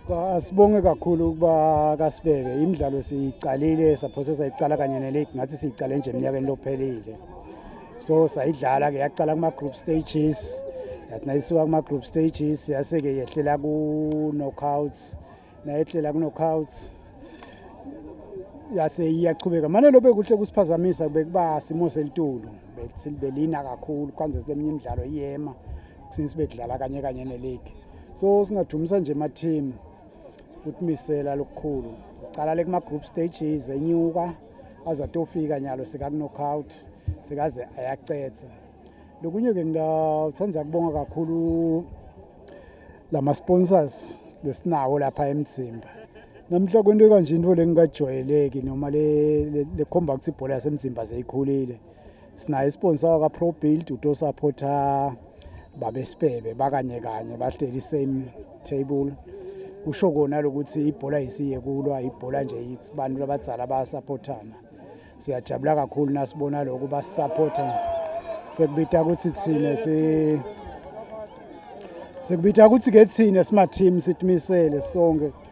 Cha sibonge kakhulu ukuba kasibebe imidlalo siyiqalile saphose sayiqala kanye neligi ngathi siyiqale nje eminyakeni lophelile so sayidlala ke yaqala kuma group stages yathi nayisuka kuma group stages yase ke yehlela ku knockouts nayehlela ku knockouts yase iyaqhubeka manje lobe kuhle kusiphazamisa bekuba simo selitulu belina kakhulu kwanze leminye imidlalo iyema since bekudlala kanye kanye neligi so singadumisa nje ama-team ukuthi misela lokukhulu uqala le kuma-group stages enyuka aze atofika nyalo sekakunockout sekaze ayacetha lokunye-ke ngithanda kubonga kakhulu la ma-sponsors lesinawo lapha emzimba namhla kwento ekanje into le ngingajwayeleki noma lekhomba ukuthi ibhola yasemzimba seyikhulile sinaye isponsor waka Pro Build uto supporter babe Sibebe bakanye kanye bahleli same table usho kona lokuthi ibhola isiye kulwa ibhola nje abantu labadzala bayasupportana siyajabula kakhulu nasibona lokho basupporta sekubita ukuthi thina si sekubita ukuthi ke thina sima team sitmisele sonke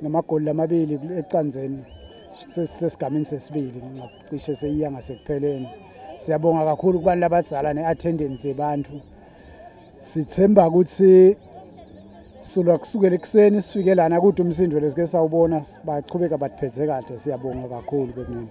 ngamagoli lamabili ecanzeni sesigamini sesibili ngacishe seyiya ngasekupheleni siyabonga kakhulu kubantu labadzala ne-attendance yebantu sithemba ukuthi silwa kusukela ekuseni sifike lana kude umsindo lesike sawubona bachubeka bathiphethe kahle siyabonga kakhulu bekunini